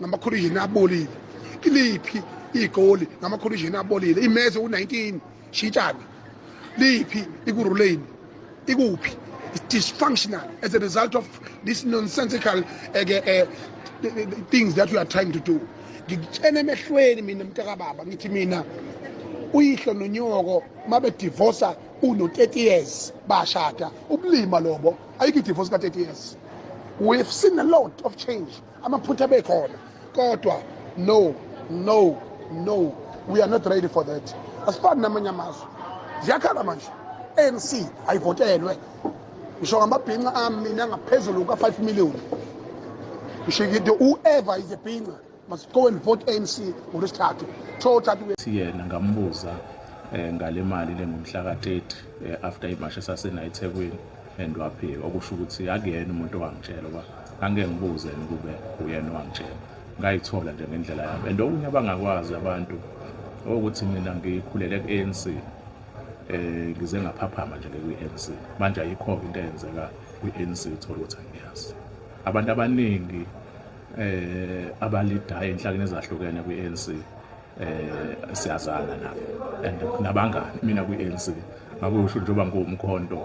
ngamakhulujini abolile iliphi igoli ngamakhulujini abolile imeze u-19 shitshana liphi ikuruleni ikuphi dysfunctional as a result of this nonsensical uh, uh, things that you are trying to do ngikutshena emehlweni mina mntakababa ngithi mina uyihlo nonyoko uma bedivosa uno-30 years bashada ubulima lobo ayikho idivosi ka-30 years we've seen a lot of change amaphutha bekhona kodwa no no no we are not ready for that asifani namanye amazwe ziyakhala manje anc ayivotelwe ngisho ngamabhinca ami mina ngaphezulu ka-5 million ngisho ngithi whoever is a bhinca must go and vote anc ngolwesithathu siyena ngambuza um ngale mali lengomhla ka-30 um eh, after imasha esasenayi ethekwini and waphika okusho ukuthi akuyena umuntu owangitshela uba angike ngibuze ukube uyena owangitshela ngayithola nje ngendlela yami and okunye abangakwazi abantu ukuthi mina ngikhulele ku-anc um eh, ngize ngaphaphama nje kwi-anc manje ayikho-ke into eyenzeka kwi-anc uthole ukuthi angiyazi abantu abaningi um abalidayo enhlakeni ezahlukene kwi-anc eh siyazana nabo and kunabangani mina kwi-ANC ngakusho njengoba ngiwumkhonto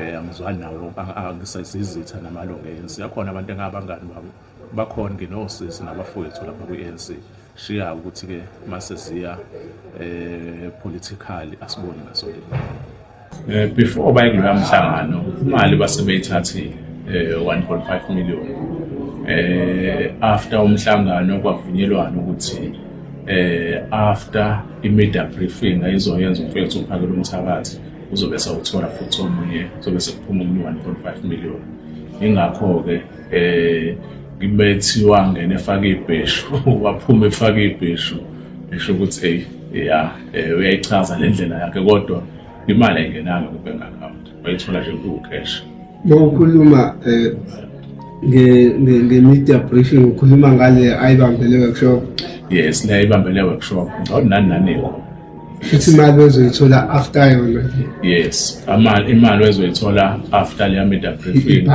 eh angizwani nawo angisayizitha namalungu e-ANC akhona abantu engabangani babo bakhona nginosisi nabafowethu lapha kwi-ANC shiya ukuthi ke mase ziya eh politically asiboni ngaso leli Eh, before baye kuloya mhlangano imali basebeyithathile eh, 1.5 million eh, after umhlangano kwavunyelwana ukuthi eh, after i-media briefing ayizoyenza umfethu uphakela umthakathi uzobe sawuthola futhi omunye uzobe sekuphuma omunye 1.5 million ingakho-ke eh ngibethiwa ngene efake ibheshu waphuma efake ibheshu esho ukuthi hey ya eh uyayichaza le ndlela yakhe kodwa imali ayingenanga ku bank account bayithola nje ku cash mawukhuluma eh nge nge media briefing ukhuluma ngale ayibambele workshop yes le ayibambele workshop ngawona nani nani futhi imali ozoyithola after yona yes amali imali ozoyithola after le media briefing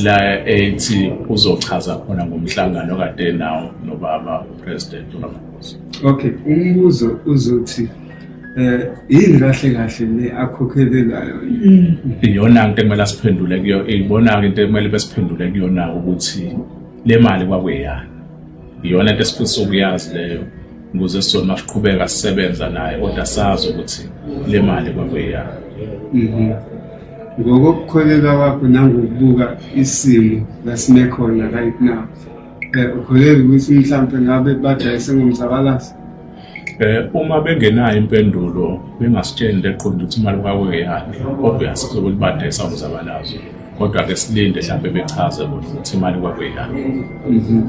la ethi uzochaza khona ngomhlangano kade nawo nobaba president Okay, umbuzo uzothi eh yini kahle kahle le akhokhelelayo iyona into ekumele siphendule kuyo ibona ke into ekumele besiphendule kuyona ukuthi le mali kwakuyana iyona into esifisa ukuyazi leyo ukuze sona masiqhubeka sisebenza naye kodwa sazi ukuthi le mali kwakuyana mhm. ngokukholelwa kwakho nangokubuka isimo lasinekhona right now Eh, ukholelwa ukuthi mhlawumbe ngabe badayise ngomzabalazi eh uma bengenayo impendulo bengasitsheni leqonda ukuthi imali kwakwe yakhe obvious ukuthi badayisa umzabalazo kodwa ke silinde mhlawumbe bechaze ukuthi imali kwakwe yakhe mhm.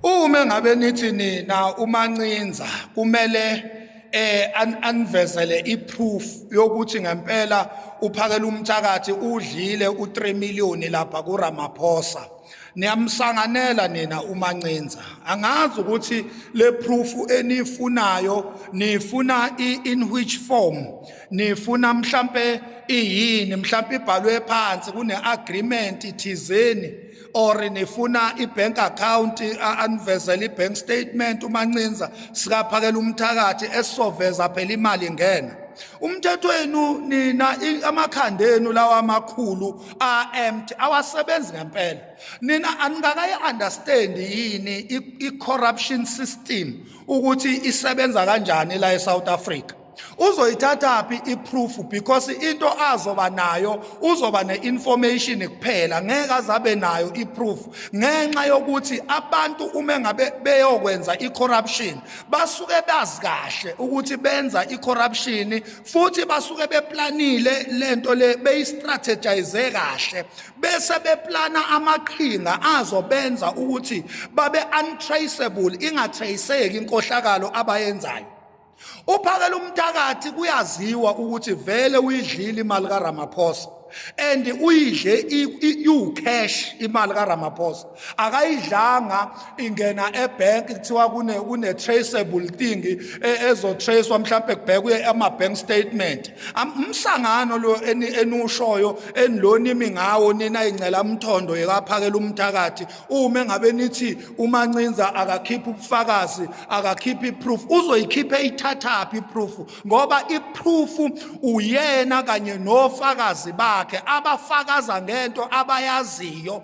uma ngabe nithi nina umancinza kumele eh anvezele iproof yokuthi ngempela uphakela umthakathi udlile u3 million lapha kuRamaphosa niyamsanganela nina umancinza angazi ukuthi le proof enifunayo nifuna in which form nifuna mhlambe iyini mhlambe ibhalwe phansi kune agreement ithizeni or nifuna ibank account anivezele ibank statement umancinza sikaphakela umthakathi esizoveza phela imali ngena umthetho wenu nina amakhanda enu lawa amakhulu are empty awasebenzi ngempela nina aningakayi understand yini i corruption system ukuthi isebenza kanjani la eSouth Africa uzoyithatha phi iproof because into azoba nayo uzoba neinformation kuphela ngeke azabe nayo iproof ngenxa yokuthi abantu uma ngabe beyokwenza icorruption basuke bazi kahle ukuthi benza icorruption futhi basuke beplanile lento le beyistrategize kahle bese beplana amaqhinga azobenza ukuthi babe untraceable ingatraceki inkohlakalo abayenzayo uphakela umthakathi kuyaziwa ukuthi vele uyidlile imali kaRamaphosa and uyidle iwucash imali kaRamaphosa akayidlanga ingena ebank kuthiwa kune kune traceable thing e, ezo tracewa mhlawumbe kubhekwe ama bank statement umsangano lo enushoyo enilona imi ngawo nina ingcela umthondo yekaphakela umthakathi uma engabe nithi umancinza akakhipha ubufakazi akakhipha iproof uzoyikhipha ithathaphi iproof ngoba iphrufu uyena kanye nofakazi bakhe abafakaza ngento abayaziyo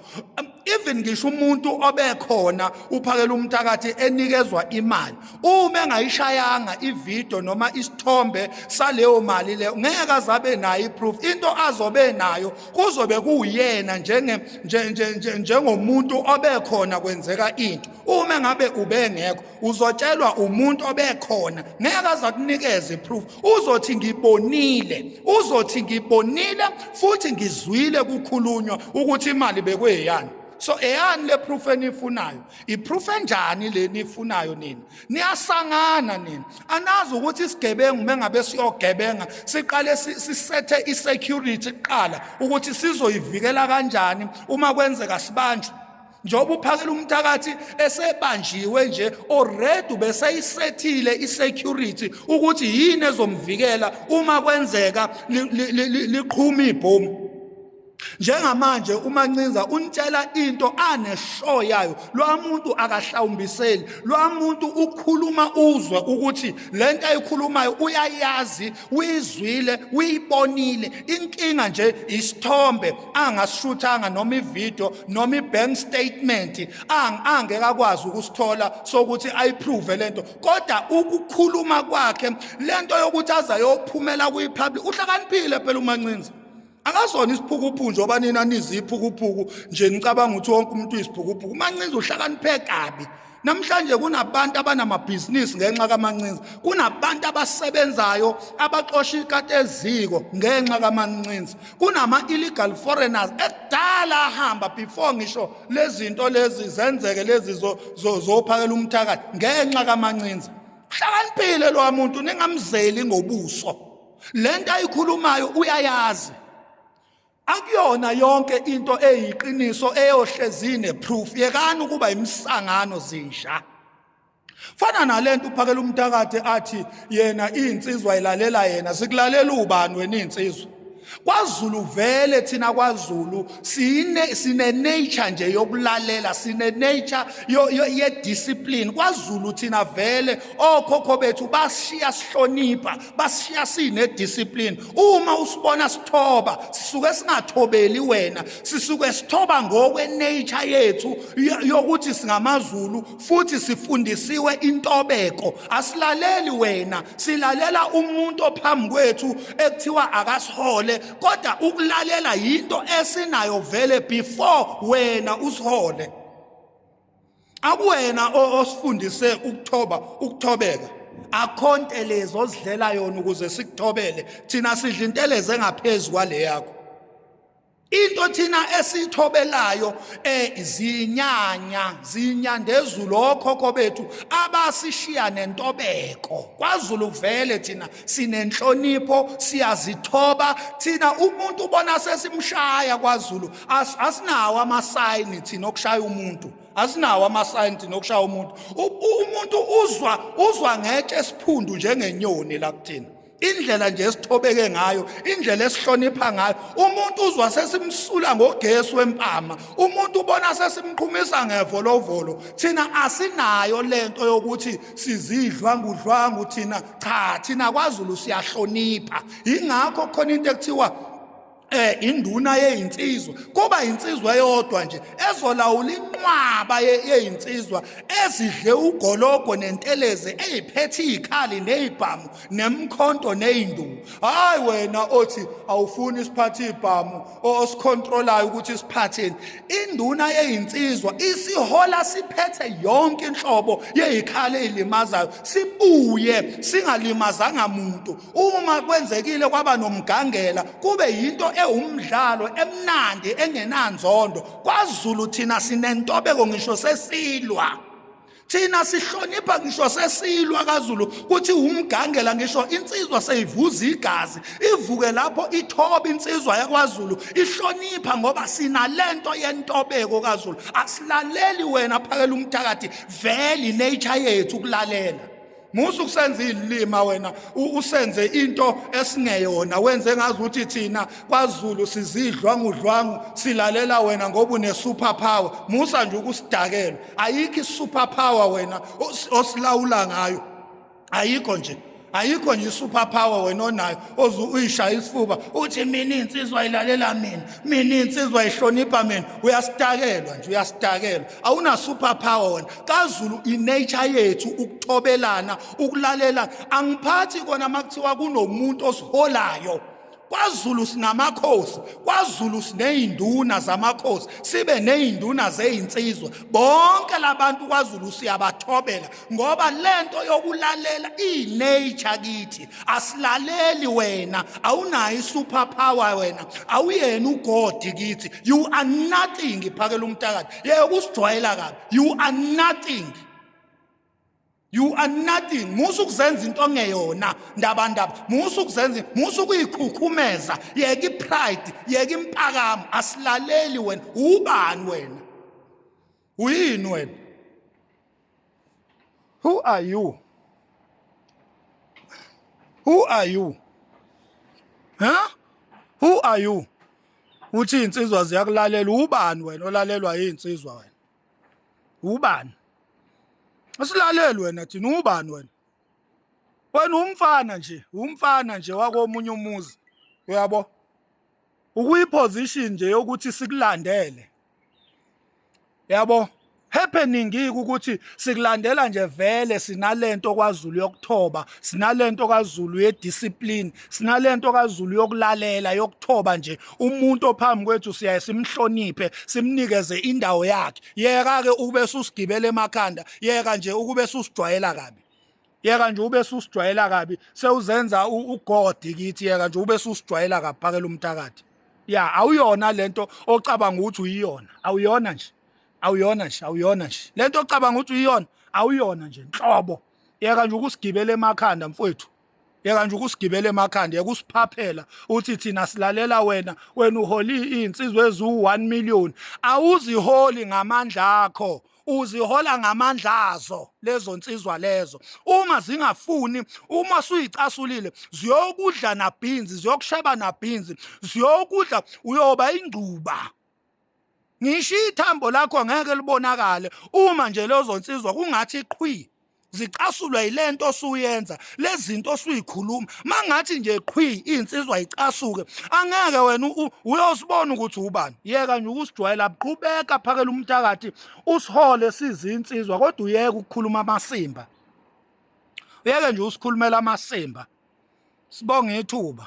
even ngisho umuntu obekhona uphakela umthakathi enikezwa imali uma engayishayanga ivideo noma isithombe saleyo mali leyo ngeke azabe nayo iproof into azobe nayo kuzobe kuwuyena njenge njengomuntu obekhona kwenzeka into uma ngabe ubengekho uzotshelwa umuntu obekhona ngeke aza kunikeze proof uzothi ngibonile uzothi ngibonile futhi ngizwile kukhulunywa ukuthi imali bekweyani so eyani le proof enifunayo iproof enjani le nifunayo nina niyasangana nina anazi ukuthi isigebengu mengabe siyogebenga siqale sisethe isecurity kuqala ukuthi sizoyivikela kanjani uma kwenzeka sibanjwe njengoba uphakela umthakathi esebanjiwe nje already ubeseyisethile isecurity ukuthi yini ezomvikela uma kwenzeka liqhuma ibhomu njengamanje umancinza unitshela into anesho yayo lo muntu akahlawumbiseli lo muntu ukhuluma uzwe ukuthi le nto ayikhulumayo uyayazi uyizwile uyibonile inkinga nje isithombe angasishuthanga noma ivideo noma ibank statement angeke akwazi ukusithola sokuthi ayiprove lento kodwa ukukhuluma kwakhe lento yokuthi azayophumela kuyipublic uhlakaniphile phela umancinza akazona isiphukuphuku nje oba nina niziphukuphuku nje nicabanga ukuthi wonke umuntu uyisiphukuphuku umancinza uhlakaniphe kabi Namhlanje kunabantu abanamabhizinisi ngenxa kamancinza. Kunabantu abasebenzayo abaxosha ikati eziko ngenxa kamancinza. Kunama illegal foreigners ekudala ahamba before ngisho lezinto lezi zenzeke lezi zophakela umthakathi ngenxa kamancinza. Hlakaniphile lo muntu ningamzeli ngobuso. Lento ayikhulumayo uyayazi. Akuyona yonke into eyiqiniso eyohlezi neproof. Yekani ukuba imisangano zinja. Fana nalento uphakela umntakade athi yena insizwa ilalela yena sikulalela ubani wena insizwa. KwaZulu vele thina kwaZulu sine sine nature nje yokulalela sine nature yo, yo ye discipline kwaZulu thina vele okhokho bethu bashiya sihlonipha bashiya sine discipline uma usibona sithoba sisuke singathobeli wena sisuke sithoba ngokwe nature yethu yokuthi singamazulu futhi sifundisiwe intobeko asilaleli wena silalela umuntu ophambi kwethu ekuthiwa akasihole kodwa ukulalela yinto esinayo vele before wena usihole akuwena osifundise ukuthoba ukuthobeka akho ntelezi ozidlela yona ukuze sikuthobele thina sidla intelezi engaphezu kwale yakho into thina esithobelayo eh zinyanya zinyandezulu okhokho bethu abasishiya nentobeko kwaZulu vele thina sinenhlonipho siyazithoba thina umuntu ubona sesimshaya kwaZulu asinawo amasayini thina okushaya umuntu asinawo amasayini thina okushaya umuntu umuntu uzwa uzwa ngetshe esiphundu njengenyoni la kuthina indlela nje esithobeke ngayo indlela esihlonipha ngayo umuntu uzwa sesimsula ngogesi wempama umuntu ubona sesimqhumisa ngevolovolo thina asinayo lento yokuthi sizidlwangudlwangu thina cha thina kwaZulu siyahlonipha ingakho khona into ekuthiwa eh induna yeyinsizwa kuba insizwa eyodwa nje ezolawula inqwaba yeyinsizwa ezidle ugologo nenteleze eziphethe izikhali nezibhamu nemkhonto nezinduku hayi wena othi awufuni isiphathe izibhamu osikhontrolayo ukuthi siphatheni induna yeyinsizwa isihola siphethe yonke inhlobo yeyikhale elimazayo sibuye singalimazanga muntu uma kwenzekile kwaba nomgangela kube yinto ewumdlalo emnandi engenanzondo kwaZulu thina sinentobeko ngisho sesilwa thina sihlonipha ngisho sesilwa kaZulu kuthi umgangela ngisho insizwa seyivuza igazi ivuke lapho ithoba insizwa yakwaZulu ihlonipha ngoba sina lento yentobeko kaZulu asilaleli wena phakela umthakathi veli nature yethu kulalela musa ukusenza izilima wena usenze into esingeyona wenze ngazi ukuthi thina kwaZulu sizidlwa ngudlwangu silalela wena ngoba une super power musa nje ukusidakela ayikho i super power wena osilawula ngayo ayikho nje ayikho nje super power wena onayo oze uyishaya isifuba uthi mina insizwa ilalela mina mina insizwa ihlonipha mina uyasitakelwa nje uyasitakelwa awuna super power wena kaZulu inature yethu ukuthobelana ukulalela angiphathi kona makuthiwa kunomuntu osiholayo kwaZulu sinamakhosi kwaZulu sinezinduna zamakhosi sibe nezinduna zezinsizwa bonke labantu kwaZulu siyabathobela ngoba lento yokulalela inature kithi asilaleli wena awunayo isuper power wena awuyena ugodi kithi you are nothing phakela umtakati yeke kusijwayela kabi you are nothing you are nothing musa ukuzenza into ongeyona ndabandaba musa ukuzenza musa ukuyikhukhumeza yeke ipride yeke impakamo asilaleli wena ubani wena uyini wena who are you who are you huh who are you uthi insizwa ziyakulalela ubani wena olalelwa yinsizwa wena ubani asilaleli wena thina ubani wena wena umfana nje umfana nje wakomunye umuzi uyabo ukuyiposition nje yokuthi sikulandele yabo happening ukuthi sikulandela nje vele sinalento kwaZulu yokuthoba sinalento kaZulu yediscipline sinalento kaZulu yokulalela yokuthoba nje umuntu ophambi kwethu siyaye simhloniphe simnikeze indawo yakhe yeka ke ukube susigibele emakhanda yeka nje ukube susijwayela kabi yeka nje ube susijwayela kabi sewuzenza ugodi kithi yeka nje ube susijwayela kabi phakela umthakathi ya awuyona lento ocabanga ukuthi uyiyona awuyona nje awuyona nje awuyona nje lento ocabanga ukuthi uyiyona awuyona nje nhlobo yeka nje ukusigibela emakhanda mfowethu yeka nje ukusigibela emakhanda yeka usiphaphela uthi thina silalela wena wena uholi insizwe ezu 1 million awuziholi ngamandla akho uzihola ngamandla azo lezo nsizwa lezo uma zingafuni uma suyicasulile ziyokudla nabhinzi ziyokusheba nabhinzi ziyokudla uyoba ingcuba ngisho ithambo lakho ngeke libonakale uma nje lezo nsizwa kungathi qhwi zicasulwa yilento osuyenza lezinto osuyikhuluma mangathi nje qhwi insizwa icasuke angeke wena uyosibona ukuthi ubani yeka nje ukusijwayela qhubeka phakela umthakathi usihole sizinsizwa kodwa uyeke ukukhuluma amasimba uyeke nje usikhulumela amasimba sibonge ithuba